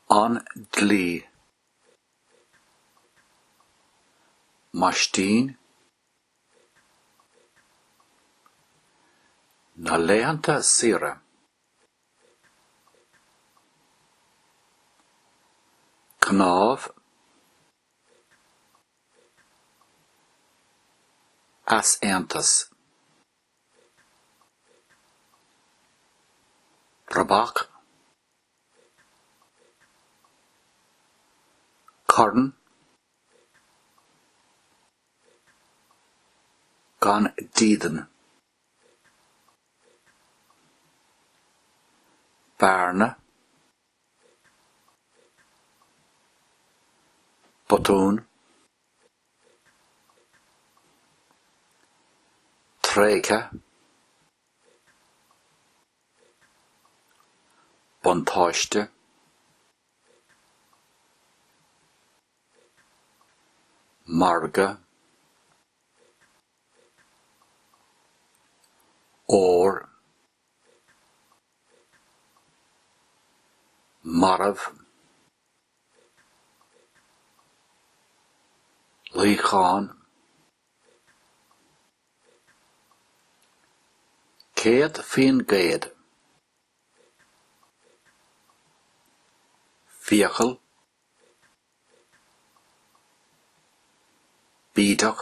An dlí. Maistín. Na laethanta saoire. Cnámh. easaontas. Rabhadh. Corn. Gan dídean. Bearna. botún tréithe buntáiste margadh ór. marbh, luíochán, céad faoin gcéad, fiacail, bídeach.